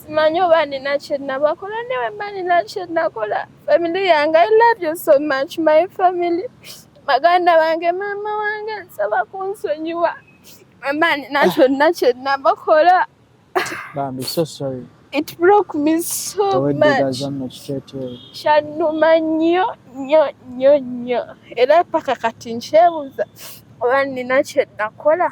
simanyi oba nina kyenabakola newe mba nina kyenakola family yange i love you so much my family baganda bange maama wange nsaba kunsonyiwa mama nina kyonna kyenabakola bambi so sorry it broke me so much kyanuma nnyo nnyo nnyo nnyo era paka kati nkyebuza oba nina kyenakola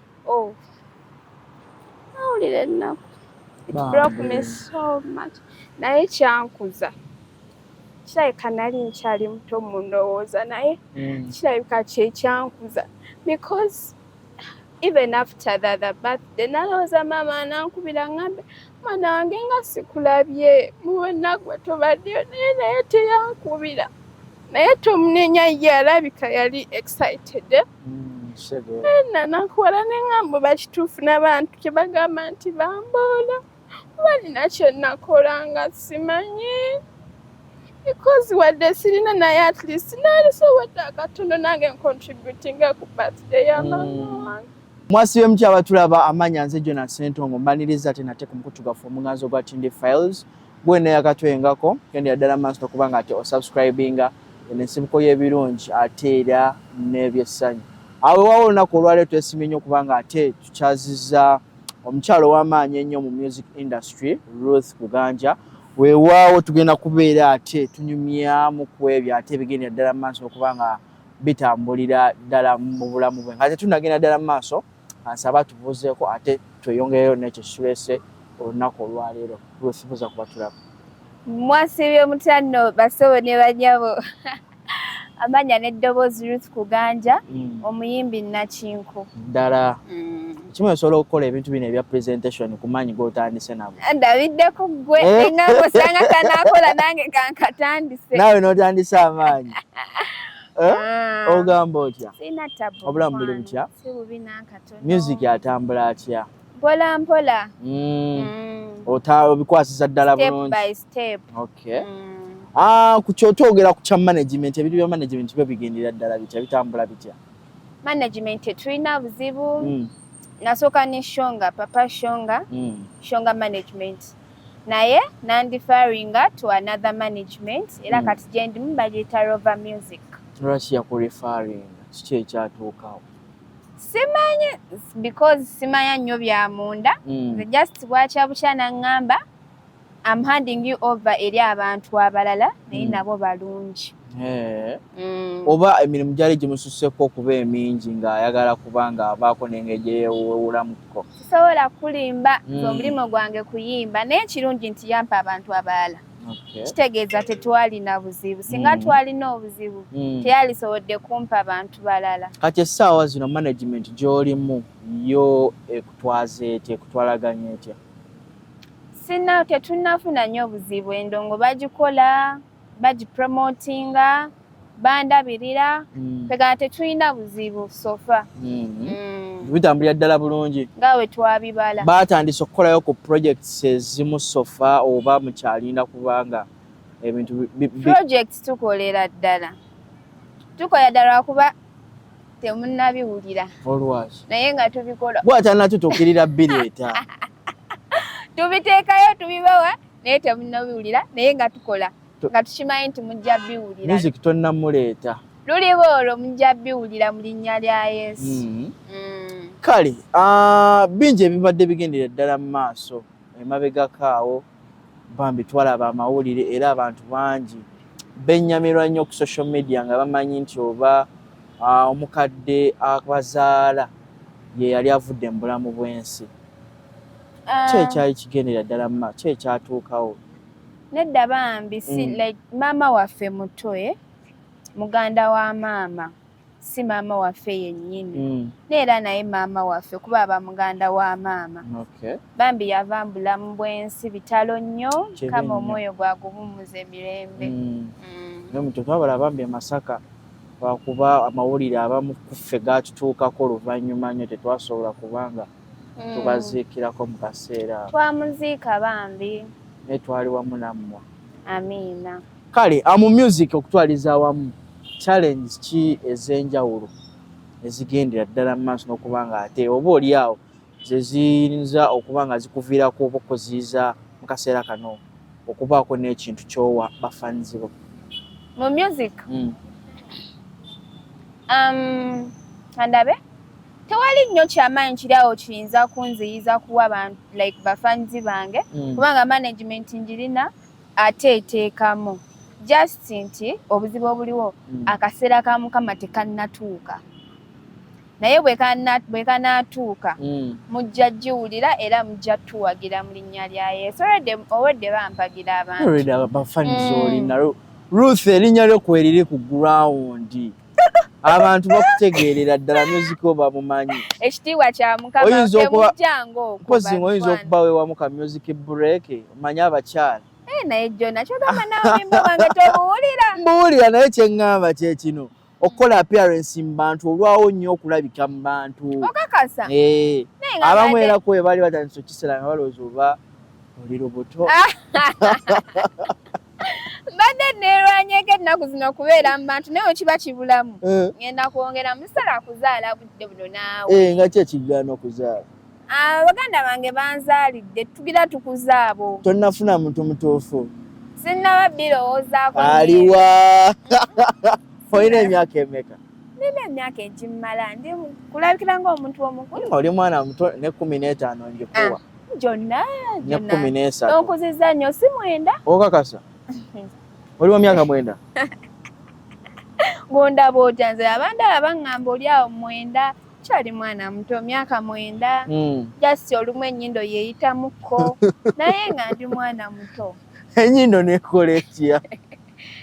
oh nawulira ennaku it broke me so much naye kyankuza kirabika nali nkyali muto mu ndowooza naye mm. kirabika kyekyankuza because even after the other birthday nalowooza maama anankubira ngambe mwana wange nga sikulabye muwenagwe tobaddeyo naye naye teyankubira naye tomunenya ye alabika yali excited eh? ena nakuwala ne ŋŋamba oba kituufu n'abantu kye bagamba nti bamboola oba nina kye nnakola nga simanyi because wadde sirina naye at least naalisobodde akatono nange ncontributinga ku birthday ya mm. mama wange mwasi w'emuti abatulaba amanya nze jona sentongo mbaniriza ate nate ku mukutu gwaffe omuganzi ogwa tinde files gwe neyakatwengako kendera ddala maaso nokuba nga ate osubscribinga eno ensibuko y'ebirungi ate era n'ebyessanyu awo ewawo olunaku olwaleero twesimye nnyo okuba nga ate tukyaziza omukyalo w'amaanyi ennyo mu music industry ruth kuganja weewaawo tugenda kubeera ate tunyumyamu ku ebyo ate ebigendera ddala mu maaso okuba nga bitambulira ddala mu bulamu bwe nga tetunagenda ddala mu maaso nsaba tubuuzeeko ate tweyongereyo nekyo kitulese olunaku olwaleero lwefubuza kuba tulaba mwasiibye mutanno basobo ne banyabo amanya n'eddoboozi ruth kuganja mm. omuyimbi nakinku ddala mm. kimu esobola okukola ebintu bino ebya presentation kumaanyi gotandise nabo ndabiddeko gwe eh? enange osanga kanakola nange kankatandise naawe notandise amaanyi Eh? Ah. ogamba otya obulamu buli butya si bubi n'akatono music atambula atya mpola mpola mm. mm. obikwasisa ddala bulungi okay mm. ah, ku kyotwogera ku kya management ebintu bya management byo bigendera ddala bitya bitambula bitya management tetulina buzibu mm. nasooka ne shonga papa shonga mm. shonga management naye nandifaringa to another management era mm. kati gyendimu bagiyita rover music lwaki yakurefaringa kiki ekyatuukawo simanyi because simanya nnyo bya munda mm. the just bwakya bukya naŋŋamba am handing you over eri abantu abalala naye mm. nabo balungi eh. mm. oba emirimu gyali gimususseko okuba emingi ng'ayagala kuba ng'abaako nengeri gyeyewuulamuko sobola kulimba mm. nze omulimu gwange kuyimba naye ekirungi nti yampa abantu abalala kitegeeza tetwalina buzibu singa mm. twalina obuzibu mm. teyalisobodde kumpa bantu balala kati essaawa zino management gyolimu yo ekutwaza etya ekutwalaganya etya sina tetunafuna nyo obuzibu endongo bagikola bagipromotinga bandabirira mm. tegana tetulina buzibu sofa mm-hmm. mm. bitambulira ddala bulungi nga we twabibala batandise okukolayo ku projects ezimu sofa oba mukyalinda kubanga ebintu project tukolera ddala tukola ddala lwakuba temunabiwulira naye nga tubikola bwatanatutukirira bireeta tubiteekayo tubibawa naye temunabiwulira naye nga tukola nga tukimanyi nti mujja biwulira music tonnamuleeta luliba olwo mujja biwulira mu linnya lya yesu mm-hmm. mm. kale ah, bingi ebibadde bigendera ddala mu maaso emabegako awo bambi twalaba amawulire era abantu bangi benyamirwa nnyo ku social media nga bamanyi nti oba ah, omukadde abazaala ye yali avudde mu bulamu bw'ensi um, ki ekyali kigendera ddala mma ki ekyatuukawo nedda bambi si mm. like maama waffe muto e muganda wa maama si maama waffe yennyini mm. neera naye maama waffe kuba aba muganda wa maama okay. bambi yava mbulamu bwensi bitalo nnyo kama omwoyo gwagubumuza emirembe mm. mm. naye muto twabala bambi emasaka lwakuba amawulire abamu kuffe gatutuukako oluvannyuma nnyo tetwasobola kubanga mm. mm. tubaziikirako mu kaseera twamuziika bambi naye twali wamu nammwe amiina kale amu music okutwaliza awamu challenge ki ez'enjawulo ezigendera ddala mu maaso n'okuba nga ate oba oli awo ze ziyinza okuba nga zikuviirako oba okuziyiza mu kaseera kano okubaako n'ekintu kyowa bafanzibo mu music mm. um, andabe tewali nnyo kyamaanyi kiri awo kiyinza kunziyiza kuwa bantu like bafanzi bange mm. kubanga management njirina ate eteekamu just nti obuzibu obuliwo mm. akaseera ka mukama tekannatuuka naye bwekanatuuka mm. mujja giwulira era mujja tuwagira mu linnya lya yesu owedde bampagira abantubafanizolina ruth erinnya lyo kweriri ku gurawundi abantu bakutegeerera ddala music oba mumanyi ekitiibwa kya mukamamujangookozi oyinza okuba wewamu ka music break omanyi abakyala eh, naye jona kyogamba nawembawange tobuwulira mbuwulira naye kyeŋŋamba kyekino okukola appearance mu bantu olwawo nnyo okulabika mu bantu okakasa eh, abamu era kwe baali batandisa okukisera nga balowooza oba oli lubuto mbadde neerwanyeko ennaku zino okubeera mu bantu naye wekiba kibulamu eh. ngenda kwongera musala kuzaala budde buno naawe eh, nga ki ekigaana okuzaala ah, baganda bange banzaalidde tugira tukuza abo tonnafuna muntu mutuufu sinnaba birowoozaako aliwa olina emyaka emeka nina emyaka egimmala ndi kulabikira ngaomuntu omukulu oli mwana muto ne kumi n'etaano ngikuwa ah. gyonna gyonnaonkuzizza nnyo si mwenda okakasa oli wa myaka mwenda bwondaba otya nze abandala baŋŋamba oli awo mwenda kyali mwana muto myaka mwenda hmm. just olumu ennyindo yeeyitamukko naye nga ndi mwana muto ennyindo nekola etya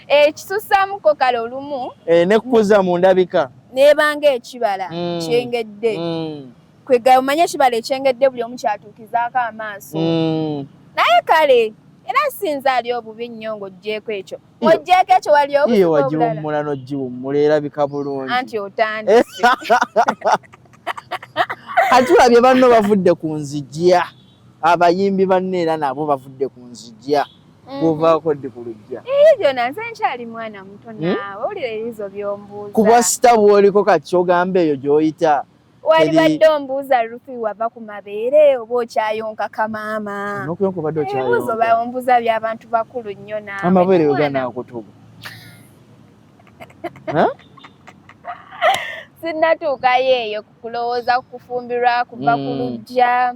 ekisusamukko eh, kale olumu eh, nekukuza mu ndabika nebanga ekibala hmm. kyengedde hmm. kwegaya omanye ekibala ekyengedde buli omu kyatuukizaako amaaso mm. naye kale era sinza ali obubi nnyo ng'oggyeeko ekyo ng'oggyeeko ekyo wali obuiye wagiwummula n'ogiwummula erabika bulungi anti otandise kati olabye banno bavudde ku nzijja abayimbi banno era nabo bavudde ku nzijja mm-hmm. kuvaako ddi ku lujja eyo gyona nze nkyali mwana muto hmm? naawe owulira ebizo by'ombuuza ku bwasita bw'oliko kati kyogamba eyo gy'oyita walibadde ombuuza lufi wava ku mabeere oba okyayonka kamaama ebibuuzo baombuuza byabantu bakulu nnyo naamabeere weganakutuga sinnatuukayo eyo kulowooza kukufumbirwa kuva ku hmm. lujja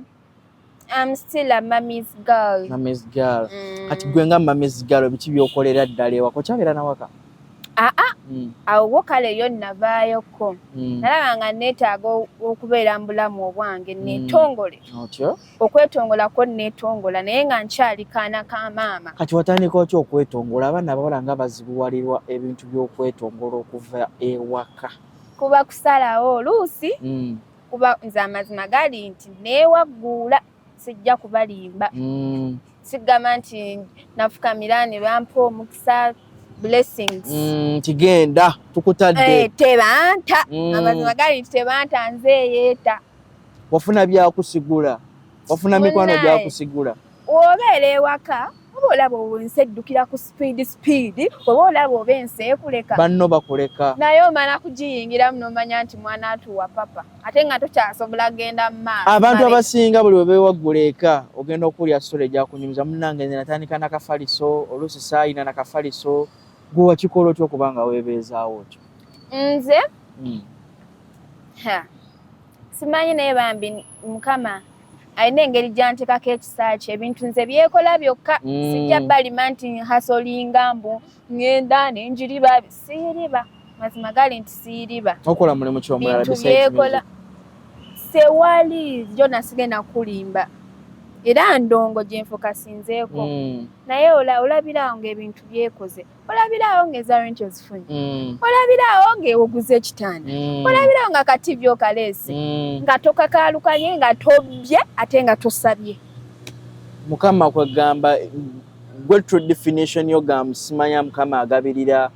I'm still a mommy's girl. Mommy's girl. Mm. Kati gwe nga mommy's girl biki byokolera ddala ewako kyabeera nawaka? Aa ah, ah. mm. awo wo kale yo navaayoko mm. nalaba nga neetaaga okubeera mu bulamu obwange mm. neetongole mm. otyo okwetongolako neetongola naye nga nkyali kaana ka maama kati watandika otya okwetongola abaana abawala nga bazibuwalirwa ebintu by'okwetongola okuva ewaka kuba kusalawo oluusi mm. kuba nze amazima gali nti neewagguula sijja kubalimba mm. sigamba nti nafukamira ne bampa omukisa blessings mm, kigenda mm, tukutadde hey, eh, tebanta mm. amazima gali nti tebanta nze eyeeta wafuna byakusigula wafuna mikwano gyakusigula obeera ewaka oba olaba owensi eddukira ku sipiidi sipiidi oba olaba oba ensi ekuleka banno bakuleka naye omala kugiyingiramu nomanya nti mwana atuwa papa ate nga tokyasobola genda mumaaso abantu abasinga buli webewaggula eka ogenda okuwulira sula egyakunyumiza munange nze natandika nakafaliso oluusi saayina nakafaliso gwe wakikola otya okuba nga webeezaawo otyo nze hmm. simanyi naye bambi mukama alina engeri gyantekako ekisa kye ebintu nze byekola byokka mm. sijja balima nti hasolinga mbu ngenda nenjiriba siyiriba mazima gali nti siyiriba okola mulimu kyomulala bintu byekola sewali jona sigenda kulimba era ndongo gyenfuka sinzeeko mm. naye olabira nga ebintu byekoze olabiraawo nga eza renti ozifunye mm. olabiraawo nga ewoguza ekitanda mm. olabiraawo nga kativi okaleese mm. nga tokakaalukanye nga tobbye ate nga tosabye mukama kwegamba gwe true definition yo ga musimanya mukama agabirira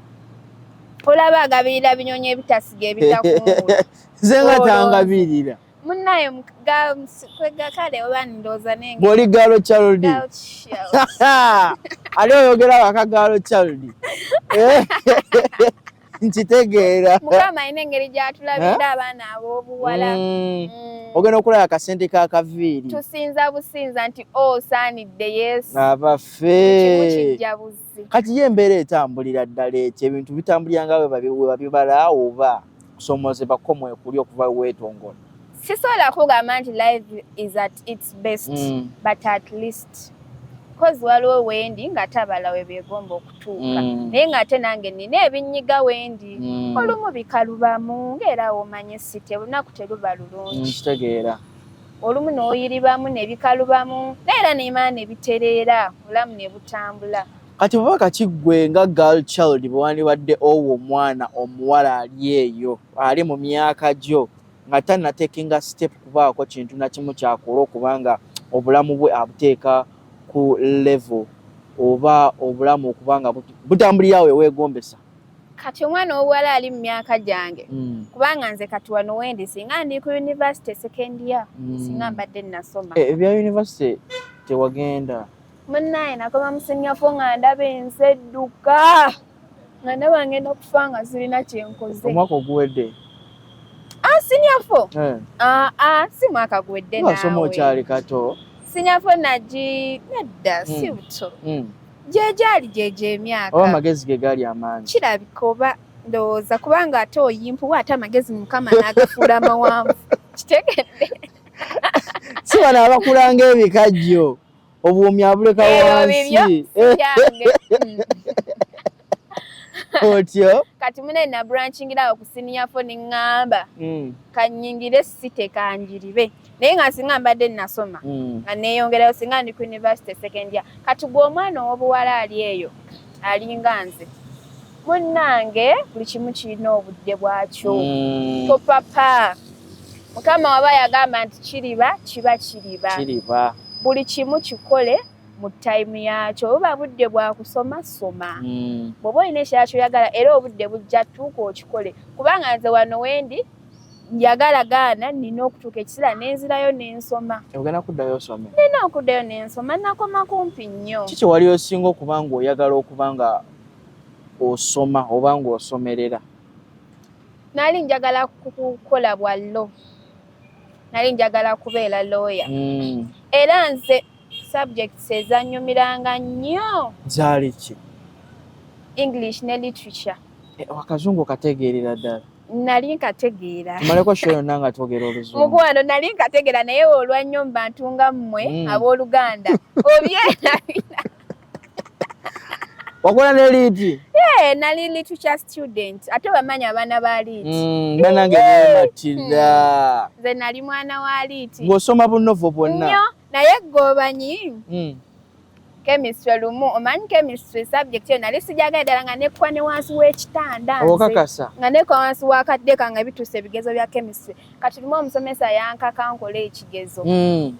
olaba agabirira binyonyi ebitasiga ebitakunze nga tangabirira Munaye mga kwega kale oba ndoza nenge. Boli galo child. Ali oyogera waka galo child. Eh. Nkitegeera. Mukama ine ngeri gyatulabira eh? abaana abobuwala. Mm. Mm. Ogenda okulaba akasente ka kaviiri. Tusinza businza nti o oh, saanidde Yesu. Abafe. Kati ye embeera etambulira ddala ekyo ebintu bitambulira nga we babibala oba. kusomozebwa ko mwekuli okuva wetongola sisobola kugamba nti live is at its best mm. but at least kozi waliwo wendi nga tabala webyegomba okutuuka mm. naye nga ate nange nina ebinyiga wendi mm. olumu bikalubamu ngaera womanye site olunaku teruba lulungi kitegeera olumu noyiribamu nebikalubamu naye era nemana nebitereera olamu nebutambula kati baba kati gwe nga girl child bwewandibadde owo omwana omuwala ali eyo ali mu myaka gyo nga tanatekinga step kubaako kintu nakimu kyakola okubanga obulamu bwe abuteeka ku level oba obulamu okubanga butambulirawo ewegombesa kati omwana owuwala ali mu myaka gyange mm. kubanga nze kati wano wendi singa ndi ku univesity second year mm. singa mbadde nasoma eh, ebya univesity tewagenda munnaye nakoma musinyafu nga ndaba ensi edduka nga ndaba ngenda kufa nga sirina kyenkoze omwaka oguwedde ah, sinyafu eh. ah, ah, si mwaka guwedde nasoma okyali kato sinyafu nagi nedda hmm. si buto hmm. gyegyali gyegyo emyaka oba amagezi ge gaali amaanyi kirabika oba ndowooza kubanga ate oyimpuwa ate amagezi mukama n'agafuula amawanvu kitegedde si bano abakulanga ebikajjo obuumi abuleka wansi otyo kati mune nabrankingira awo kusiniyafo neŋŋamba hmm. kanyingire site kanjiribe naye nga singa mbadde nasoma hmm. nga neyongerayo singa ndi ku university second year kati gwe omwana ow'obuwala ali eyo alinga nze munnange buli kimu kirina obudde bwakyo mm. topapa mukama waba yagamba nti kiriba kiba kiriba kiriba buli kimu kikole mu tayimu yakyo buba budde bwakusoma soma mm. bwoba olina ekira kyoyagala era obudde bujja tuuka okikole kubanga nze wano wendi njagala gaana nina okutuuka ekisira nenzirayo nensoma ogenda kuddayo osome nina okuddayo nensoma nakoma kumpi nnyo kiki wali osinga okuba nga oyagala okuba nga osoma oba ng'osomerera nali njagala kukola bwa lo nali njagala kubeera looya hmm. era nze subjects ezanyumiranga nnyo zaali ki english ne literature eh, akazungu okategeerera ddala nali nkategeera tumaleko sho yonna nga twogera oluzungu mukwano nali nkategeera naye olwannyo mubantu nga mmwe hmm. abooluganda obyerabira wakola ne liiti eh, nali litu kya student ate bamanya abaana ba liiti mm, banange bematirira hmm. nze nali mwana wa liiti ng'osoma bunovo bwonna nyo naye gobanyi mm. chemistry lumu omanyi chemistry subject eyo nali sijagala ddala nga nekwa ne wansi w'ekitanda okakasa nga nekwa wansi wakadde kange bituuse ebigezo bya chemistry kati lumu omusomesa yankaka nkola ekigezo mm.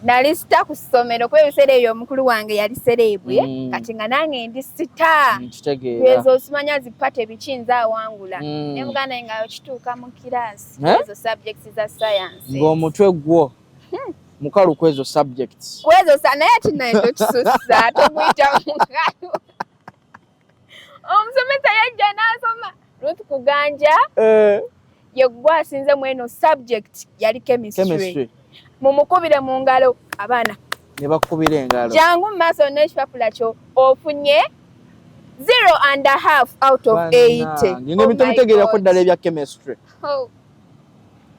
nali sita ku ssomero kuba ebiseera ebyo omukulu wange yali sereebu ye mm. kati nga nange ndi sita mm, ezo osimanya zipate biki nze awangula mm. ne muganda nga okituuka mu kiraasi eh? ezo subjects za science ng'omutwe gwo hmm. mukalu ku ezo subjects ku ezo naye kinaye tokisusa tomuyita mukalu omusomesa yajja n'asoma ruth kuganja eh. yegwe asinze mu eno subject yali chemistry mumukubire mu ngalo abaana ne bakubira engalo jangu mu maaso n'ekipapula kyo ofunye zero and a half out of eight nina ebitomutegeerako oh ddala ebya chemistry oh.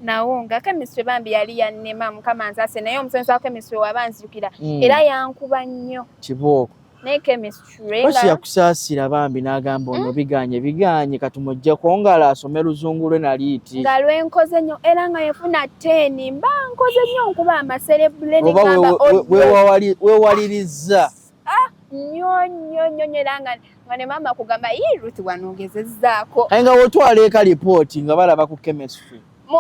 nawo nga chemistry bambi yali yannema mukama nsase naye omusomesa wa chemistry waba nzijukira mm. era yankuba nnyo kibooko naye chemistry basi yakusaasira bambi n'agamba ono hmm? biganye biganye kati mujjeko ngalo asome luzungu lwe naliiti nga lwenkoze nnyo era nga yefuna teeni mba nkoze nnyo nkuba amaserebule wewalirizza ah, nnyo nnyo nnyo nyo era nga nga ne maama kugamba yii ruth wanogezezzaako aye nga wotwala eka lipooti nga balaba ku chemistry mu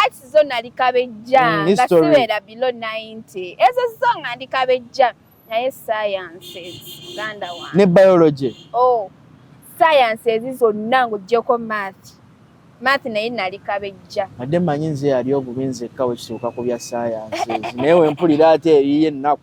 arts zo nali kabejja mm, nga sibeera bilo 90 ezo zo nga ndi kabejja naye sciences uganda wa ne biology oh sciences zonna ng'ogyeko math math naye nali kabejja ate manyi nze yali obubi nzekka wekituuka ku bya sciences naye wempulira ate eyiyo ennaku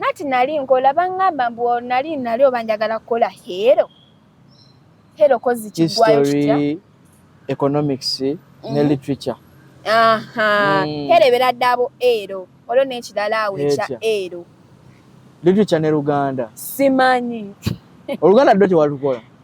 nati nali nkola bangamba mbu nali nali oba njagala kukola hero hero kozi kigwayo kitya economics mm. ne mhm. literature aha mm. hero ebera dabo ero olwo nekirala awo ekya ero literature ne luganda simanyi oluganda ddo tewalukola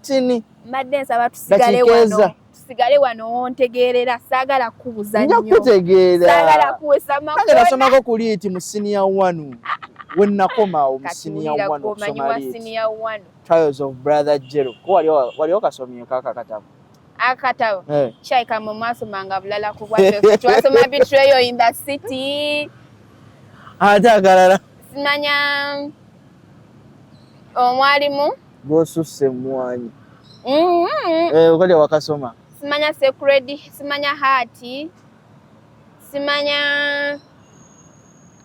tini mbadde nsaba tusigale wano tusigale wano wontegeerera saagala kukubuza nnyo nja kutegeera saagala kuwesa makona nasomako ku liiti mu siniya wanu we nakomawo mu siniya wanu okusoma liiti trials of brother jero ko wali okasomyeko aka katabo akatabo eh. kyaika mwe mwasomanga bulala ku bwaffe twasoma betrayo in the city ate akalala simanya omwalimu oh, gwosusse emwanyi mm-hmm. eh, okalya wakasoma simanya secret simanya haati simanya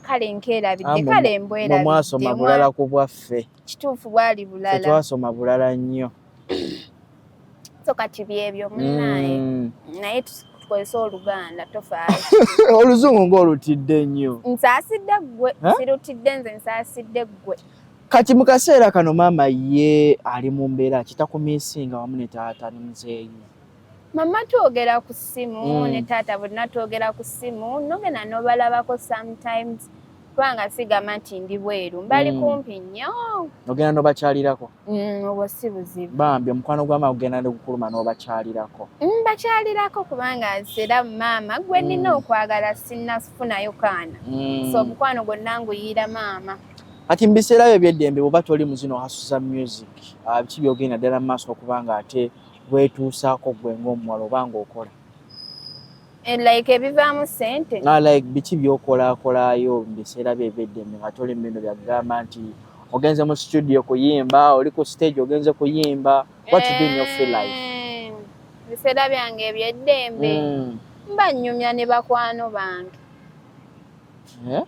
kale nkeerabidde ah, kale mbwerabidde mwasoma bulala ku bwaffe kituufu bwali bulala twasoma bulala nnyo so kati byebyo munaye mm. naye tukozesa oluganda tofaayo oluzungu ng'olutidde nnyo nsaasidde ggwe sirutidde nze nsaasidde ggwe Kati mu kaseera kano maama ye ali mu mbeera kitakumisinga wamu ne taata ne muzeeyi? Mama twogera ku ssimu mm. ne taata bonna twogera ku ssimu nogenda nobalabako sometimes kubanga sigamba nti ndi bweru mbali mm. kumpi nnyo ogenda nobakyalirako mm, obwo si buzibu bambi omukwano gwama ogenda nogukuluma nobakyalirako mm, bakyalirako kubanga era maama gwe nina mm. okwagala sinafunayo kaana mm. so omukwano gwonna nguyiira maama kati mu biseera byo ebyeddembe bwoba toli mu zino hasuza music ah, biki byogenda ddala mu maaso okuba nga ate wetuusaako gwe ngaomuwala oba ngaokola eh, like ebivaamu sente ah, like biki byokolakolaayo mu biseera byo ebyeddembe nga toli mu bino byakugamba nti ogenze mu studio kuyimba oli ku stage ogenze kuyimba what you doing your free life eh, biseera byange ebyeddembe mm. mba nyumya ne bakwano bange yeah?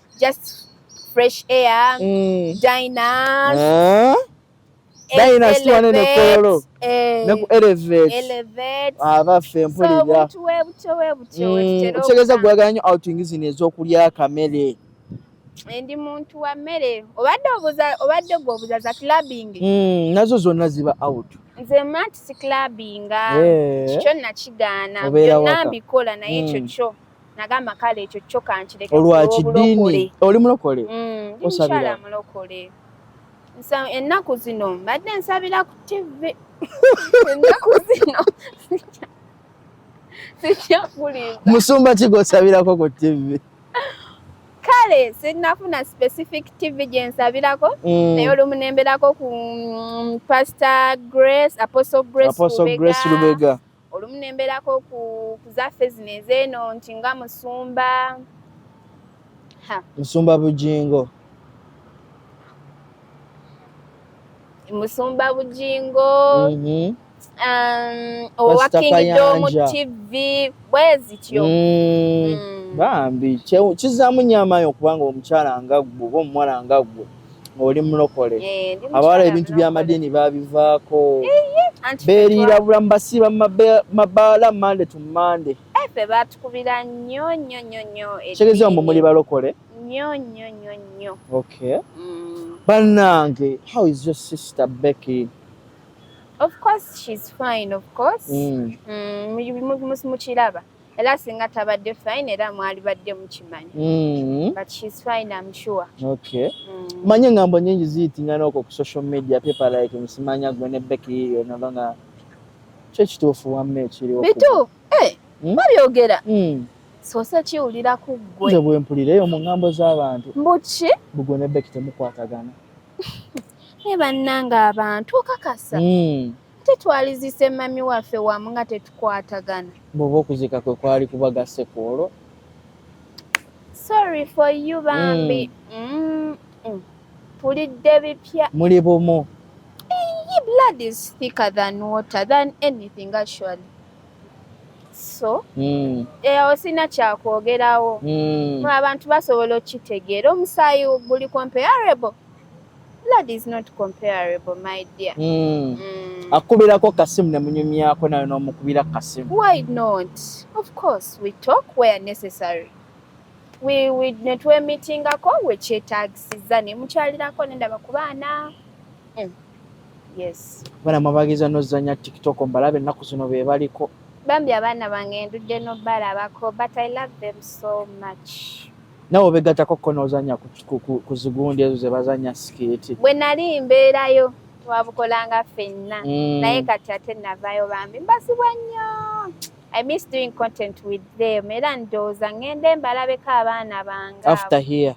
just fresh air mm. diners eh? dayina sitwane nekololo eh. neku elevate abaffe ah, mpulira mm, okitegeza gwagala nyo outing zino ezokulya akamere ndi muntu wa mmere obadde obuza obadde gwe obuza za clubbing mm, nazo zonna ziba out nze mati si clubbinga eh. kikyo nakigaana byonna mbikola naye ekyo kyo nagamba kale ekyo kyo kankireke olwakidini oli mulokole mm, osabira mulokole nsa ennaku zino mbadde nsabira ku tv ennaku zino sikyakulinda musumba kigosabirako ku tv kale sinafuna specific tv gyensabirako mm. naye olumu nemberako ku mm, pastor grace apostle grace lubega olumu ne mbeerako ku ku zaffe zino ezeeno nti nga musumba ha musumba bujingo musumba bujingo Mhm. um, owa Pastor King Dom Kayanja. TV bwezityo Mm. Mm. bambi kye- kizaamu nyamayo kubanga omukyala nga ggwe oba omuwala nga ggwe oli mulokole eh, abawala ebintu byamadiini babivaako beriira bulamu basiiba mabaala mande to mande eh, fe batukubira nnyo nnyo nnyo nnyo kitegeeza mbu muli balokole nnyo nnyo nnyo nnyo okay mm. bannange how is your sister becky of course she's fine of course mm. mm, mukiraba era singa tabadde fine era mwali badde mukimanya mm-hmm. but she's fine I'm sure okay mm. manye ngambo nyingi ziyitingana okwo ku social media people like musimanya gwe ne Becky yiyo naba nga kyo ekituufu wamma ekiriwo bitu eh, hmm? babyogera hmm. sose kiwulira ku ggwe nze bwempulira eyo mu ngambo z'abantu mbuki bugwe ne Becky temukwatagana naye bannanga abantu okakasa hmm. tetwalizise mami waffe wamu nga tetukwatagana bwoba okuzika kwe kwali kubagase ku olwo sorry for you bambi mm. Mm. tulidde mm. bipya muli bumu Iyi blood is thicker than water than anything actually so mm. eyawo sina kyakwogerawo mm. abantu basobola okukitegeera omusaayi guli comparable blood is not comparable my dear mm. Mm. akubirako kasimu ne munyumyako nayo n'omukubira kasimu why not of course we talk where necessary we, we ne twemitingako wekyetagisiza ne mukyalirako nendaba ku baana mm. yes bana mwabagiza nozanya tiktok mbalabe ennaku zino be baliko bambi abaana bange ndudde nobalabako but i love them so much nawe obegatako ko nozanya ku zigundi ezo zebazanya siketi bwe nali mbeerayo twabukolanga fenna mm. naye kati ate navayo bambi mbasibwa nnyo I miss doing content with them era ndooza ngende mbalabeko abaana bange after here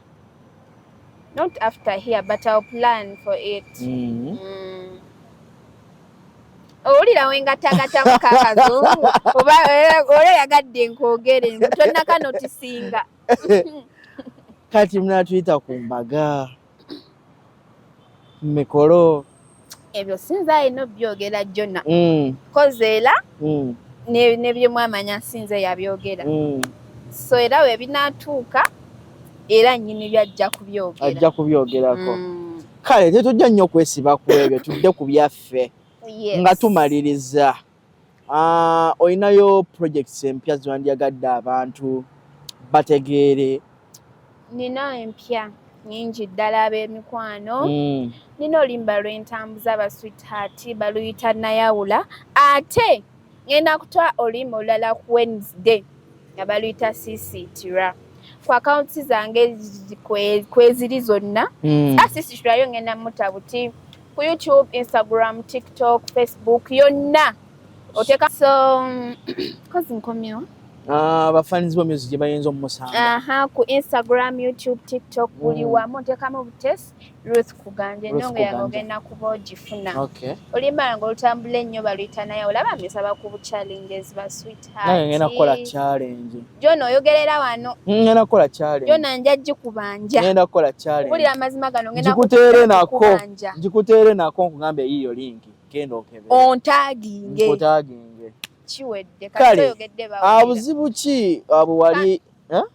not after here but I'll plan for it mm. Mm. owulira wengatagata mukakazungu oba ora yagadde nkwogere tonaka notisinga kati munatuyita ku mbaga mikolo ebyo sinza ayina obyogera jona mm. koze era mm. nebyemwamanya sinza yabyogera mm. so era webinatuuka era nyini byajja kubyogera ajja kubyogerako kale tetujja nnyo kwesiba ku ebyo tudde ku byaffe nga tumaliriza ah, olinayo projects empya ziwandyagadde abantu bategeere nina empya nyingi ddala ab'emikwano mm. nina oluyimba lwentambuza ba sweetheart baluyita nayawula ate ngenda kuta oluyimba olulala ku wednesday nga baluyita sisitira ku akawunti zange kweziri zonna hmm. asisitirayo ngenda muta buti ku youtube instagram tiktok facebook yonna oteka so kozi nkomyewo Ah, abafaanizi bo music gye bayinza omumusanga aha ku instagram youtube tiktok buli mm. wamu ntekamu butesi Ruth Kuganja ennyongo yange ogenda kuba ogifuna oluyimbala nga olutambula ennyo baluyita naye olaba misaba ku challenges ba sweetheartngenda kukola challenge jona oyogerera wano hmm, ngenda kukola challenge jona nja gikubanja ngenda kukola challenge kubulira amazima gano ngenda kukutere nako ngikutere nako nkugamba eyiyo linki genda okebe ontaginge ontaginge kiwedde kale abuzibu ki abwali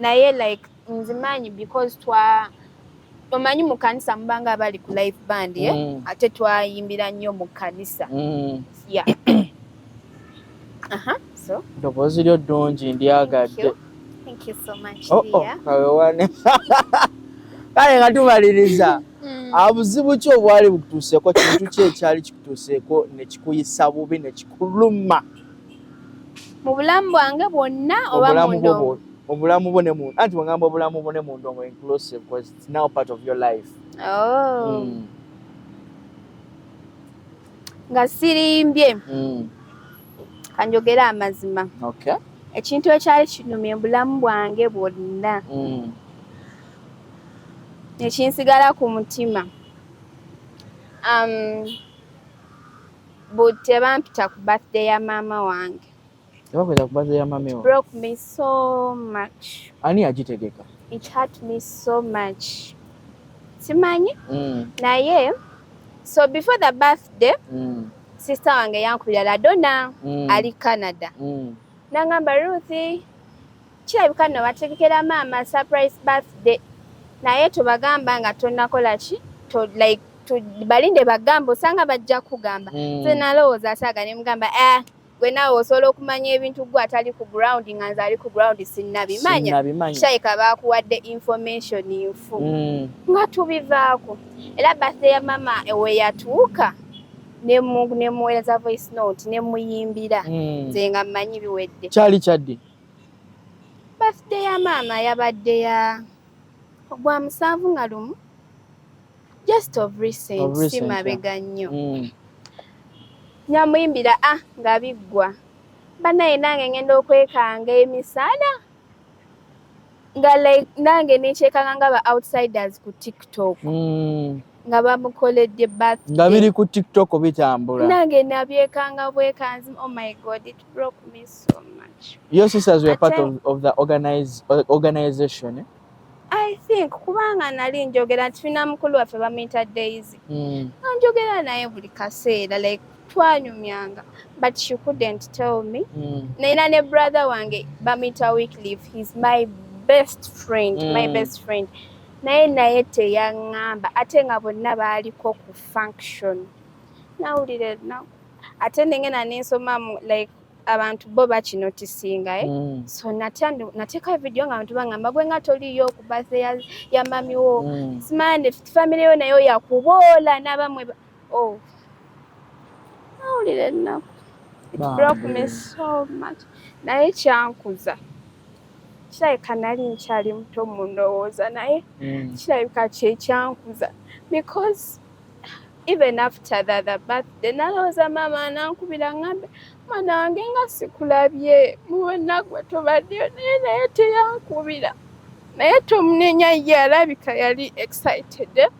naye like nzimanyi because twa omanyi mu kanisa mubanga abali ku live band eh? mm. ate twayimbira nnyo mu kanisa mm. ya ddoboozi lyo ddungi ndyagadde oh, oh, kale nga tumaliriza mm. abuzibu ah, ki obwali bukutuuseeko kintu ki ekyali kikutuuseeko nekikuyisa bubi nekikuluma mu bulamu bwange bwonna oba mundongo mu bulamu bwo ne munda anti wangamba obulamu bwo ne mundongo inclusive because it's now part of your life oh. mm. nga sirimbye mm. kanjogera amazima okay. ekintu ekyali kinumye bulamu bwange bwonna mm. ekinsigala ku mutima um, But tebampita ku birthday ya maama wange. Tebakweta ku birthday ya maama wange. Broke me so much. Ani yagitegeka? It hurt me so much. Simanyi? Mm. Naye so before the birthday mm. sister wange yankubira ladona mm. ali Canada. Mm. Nangamba Ruthi Kirabika nno bategekera maama surprise birthday naye tobagamba nga tonakola ki to like to balinde bagamba osanga bajja kugamba mm. so nalowooza asaaga ne mugamba eh gwe naawe osobola okumanya ebintu gwe atali ku ground nga nze ali ku ground sinnabimanya shaika baakuwadde information nfu mm. nga tubivaako era birthday ya mama weyatuuka nemuweereza voice note nemuyimbira mm. nze nga mmanyi biwedde kyali kyaddi Birthday ya maama yabadde ya gwa musanvu nga lumu just of recent si mabega nnyo mm. nyamuyimbira a ah, nga biggwa banaye nange ngenda okwekanga emisana nga like nange nekyekanga nga ba outsiders ku tiktok mm. nga bamukoledde nga biri ku tiktok bitambula nange nabyekanga bwekanzi oh my god it broke me so much your sisters were part of, of the organize, organization eh? i think kubanga nali njogera nti fina mukulu waffe bamuyita daisy mm. njogera naye buli kaseera like twanyumyanga but she couldn't tell me mm. naina ne brother wange bamita weeklief he's my best friend mm. my hmm. best friend naye naye teyaŋŋamba ate nga bonna baaliko ku function nawulira enaku ate nengena nensomamu like abantu bo bakinotisinga eh? mm. so nateeka vidiyo nga bantu bangamba gwe nga toliyo ku bathe ya, ya mamiwo mm. simande famireyo nayo yakuboola nabamwe oh nawulira ennaku it broke me so much naye kyankuza kirabika nali nkyali muto mu ndowooza naye mm. kirabika kyekyankuza because even after the other birthday nalowooza maama anankubira ngambe mwana wange nga sikulabye muwenagwe tobaddeyo naye naye teyankubira naye tomunenya ye alabika yali excited eh?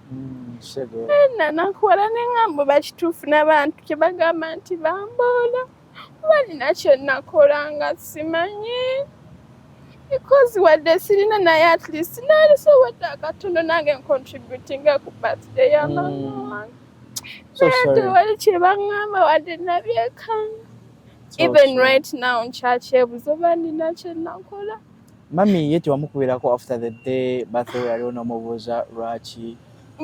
nanakuwala ne ŋambo bakituufu n'abantu kye bagamba nti bamboola kuba nina kye nakola nga simanyi because wadde sirina naye at least nalisobodde akatono nange ncontributinga ku birthday ya mm. mama wange naye tewali kye baŋŋamba wadde nabyekanga even right now nkyakyebuza oba nina kye nakola Mami ye tewamukubirako after the day birthday we yaliwo n'omubuuza lwaki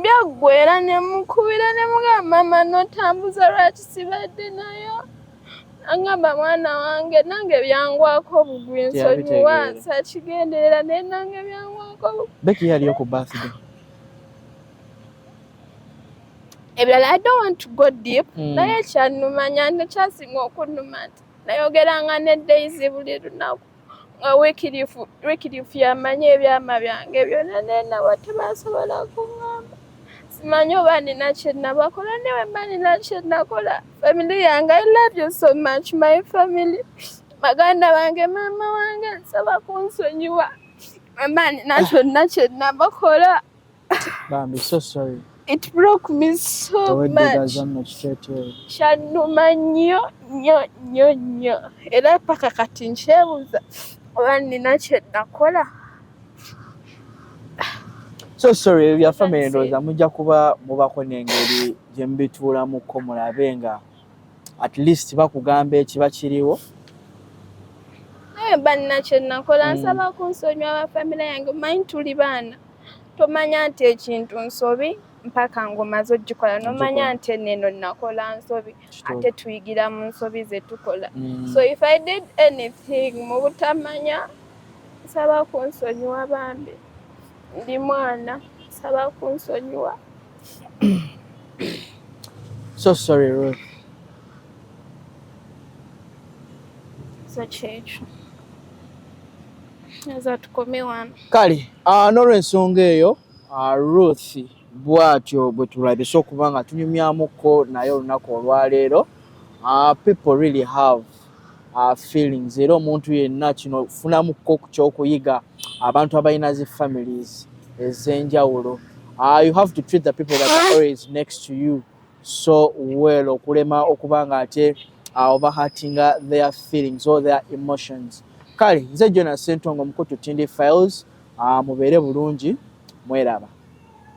byaggwa era ne mukubira ne mugamba mama notambuza lwaki sibadde nayo angamba mwana wange nange byangwako obugwi nsonyiwa sakigenderera naye nange byangwako beki yaliyo ku birthday ebirala i don't want to go deep hmm. naye kyanumanya nekyasinga okunuma nti nayogeranga ne daisy buli lunaku nga wikirifu wikirifu yamanyi ebyama byange byona nenawa tebasobola kungamba simanyi oba nina kyenabakola newemba nina kyenakola family yange i love you so much my family baganda bange maama wange nsaba kunsonyiwa mama nina kyonna kyenabakola Bambi, so sorry. It broke me so much. Kyanuma nnyo nnyo nnyo nnyo era paka kati nkyebuuza oba nina kye nakola. So sorry ebya family ndowooza mujja kuba mubako n'engeri gye mubituulamuko mulabe nga at least bakugamba ekiba kiriwo naye banna kye nakola hmm. nsaba kunsonyiwa ba famire yange manyi tuli baana tomanya nti ekintu nsobi mpaka ngaomaze ogikola nomanya nti neno nakola nsobi ate tuyigira mu nsobi zetukola mm. so if i did anything mu butamanya nsaba kunsonyiwa bambi ndi mwana nsaba kunsonyiwa so sorry Ruth. so kyekyo kale ah, n'olwensonga eyo ah, ruth bwatyo bwe tulabise okuba nga tunyumyamuko naye olunaku olwaleero ah, people really have feelings era omuntu yenna kino funamuko ku kyokuyiga abantu abalina zi families ez'enjawulo you have to treat the people that are always next to you so well okulema okuba nga ate uh, overhearting their feelings or their emotions kale nze jona sentongo mukutu tindi files uh, mubeere bulungi mweraba